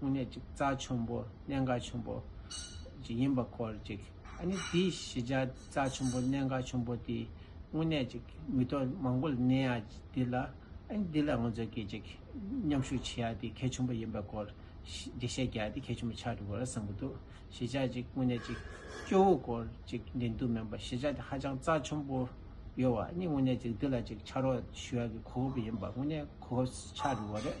དངོས་གནས་ཅིག་རྩ་ཆུན་པོ་གནད་འགག་ཆུན་པོ་ཅིག་ཡིན་པ་སྐོར་ཅིག་ཨ་ནི་དེའི་གཞི་ཆ་རྩ་ཆུན་པོ་གནད་འགག་ཆུན་པོ་དེའི་དངོས་གནས་ཅིག་མི་ཐོག་མང་པོ་ལ་གནས་ཡ་འདི་ལ་ཨ་ནི་འདི་ལ་ངོ་ཚོད་སྐྱེལ་ཅིག་མཉམ་ཞུགས་བྱེད་ཡ་དེའི་གལ་ཆུན་པོ་ཡིན་པའི་སྐོར་ཅིག་བཤད་རྒྱ་ཡ་དེའི་གལ་ཆུན་པོ་ཆགས་འགྲོ་དགོས་ར་བསམ་གྱི་འདུག་གཞི་ཆ་ཅིག་དངོས་གནས་ཅིག་སྐྱོ་བོ་སྐོར་ཅིག་འདྲེན་འདུག་མིན་པ་གཞི་ཆ་དེ་ཧ་ཅང་རྩ་ཆུན་པོ་ཡོད་བ་ཨ་ནི་དངོས་གནས་ཅིག་འདི་ལ་ཅིག་ཕྱག་རོགས་ཞུ་ཡ་གི་གོ་སྐབས་ཡིན་པ་དངོས་གནས་གོ་སྐབས་ཆགས་འགྲོ་དགོས་ར་རེད།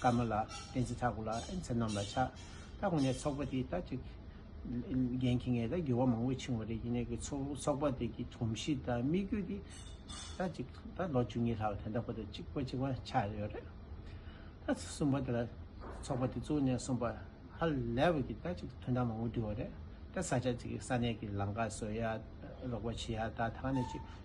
ཀརྨ་ལགས་བསྟན་འཛིན་ཐར་ཁུ་ལགས་ཨེན་ཚེ་རྣམས་ལ་ཕྱག་ད་ཁོང་ནས་ཚོགས་པ་དེ་ད་ཅིག་རྒན་ཁྱི་ངས་ད་འགྱུར་བ་མང་བོ་ཕྱིན་བ་རེད་ཡིན་ནའི་གི་ཚོགས་པ་དེ་གི་དུམ་གཞི་དང་དམིགས་ཡུལ་དེ་ད་ཅིག་ད་ལོ་བཅུ་གཉིས་ལྷག་དེ་འདྲ་པོ་དེ་ཅིག་པ་ཅིག་པ་ཆགས་ཡོད་རེད་ད་གསུམ་པ་དེ་ལ་ཚོགས་པ་དེ་བཙུགས་ནས་གསུམ་པ་ཧ་ལས་བ་གི་ད་ཅིག་དོན་དག་མང་བོ་འདུས་བ་རེད་ད་ས་ཆ་ཅིག་གི་ས་གནས་གི་ལང་ཀ་བཟོ་ཡག་རོགས་པ་བྱེད་ཡག་ད་ད་ནས་ཅིག།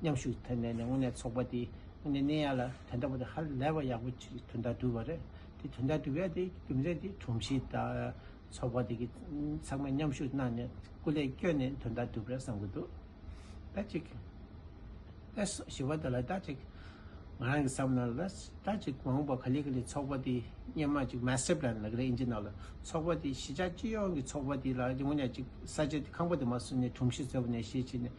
མཉམ་ཞུགས་ཐེབས་ནས་ནས་དངོས་གནས་ཚོགས་པ་དེ་དངོས་གནས་གནས་ཡ་ལ་དེ་འདྲ་བོ་དེ་ཧ་ལས་པ་ཡག་པོ་ཆེ་དོན་དག་འགྲུབ་པ་རེད་དེ་དོན་དག་འགྲུབ་ཡ་དེ་རྒྱུ་མཚན་དེ་དྲུང་ཆེ་དང་ཚོགས་པ་དེ་གི་ཚང་མས་མཉམ་ཞུགས་གནང་ནས་སྐུ་ལས་བསྐྱོན་ནས་དོན་དག་འགྲུབ་རེད་བསམ་གྱི་འདུག་ད་ཅིག་ཨེ་སོགས་ཞེས་པ་འདི་ལ་ད་ཅིག་ང་རང་གི་བསམ་ན་ལ་ད་ཅིག་མ་འོངས་པ་ག་ལེ་ག་ལེ་ཚོགས་པ་དེ་སྙན་མ་ཅིག Master Plan ལ་ག་ལེ་ཨིན་ཅི་ན་ལ་ཚོགས་པ་དེ་གཞི་ཆགས་སྤྱི་ཡོངས་ཀྱི་ཚོགས་པ་དེ་ལ་དངོས་གནས་ཅིག་ས་ཆ་དེ་ཁང་པ་དེ་མ་བཟོས་ནས་དྲུང་ཆེ་ཚོས་པ་ནས་ཤེས་བྱས་ནས་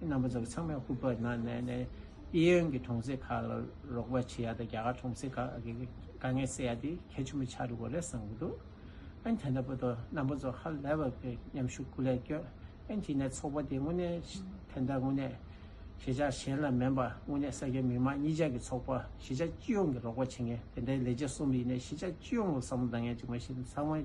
རྣམ་པ་ཚོ་ཚང་མས་ཧུར་པར་ནང་ནས་ནས་ཨི་ཡོན་གྱི་གྲོང་གསེབ་ཁག་ལ་རོགས་པ་བྱེད་ཡ་དང་རྒྱ་གར་གྲོང་གསེབ་ཁག་གི་དཀའ་ངལ་སེལ་ཡ་དེ་གལ་ཆེན་པོ་ཆགས་འགྲོ་གི་རེད་བསམ་གྱི་འདུག་ཨན་དེ་འདྲ་པོ་དང་རྣམ་པ་ཚོ་ཧ་ལས་པར་གྱི་མཉམ་ཞུགས་སྐུ་ལས་བསྐྱོན་ཨན་དེ་ནས་ཚོགས་པ་དེ་དངོས་གནས་དེ་འདྲ་དངོས་གནས་ཤེས་བྱ་གཞན་ལ་མིན་པ་དངོས་གནས་ས་སྐྱའི་མི་དམངས་གཉིས་ཅག་གི་ཚོགས་པ་ཤེས་བྱ་སྤྱི་ཡོངས་ཀྱི་རོགས་པ་བྱེད་མཁན་དེ་འདྲའི་ལས་བྱེད་གསུམ་ཡིན་ནས་ཤེས་བྱ་སྤྱི་ཡོངས་ལ་བསམ་བློ་གཏང་མཁན་གཅིག་མ་གཞི་ཚང་མ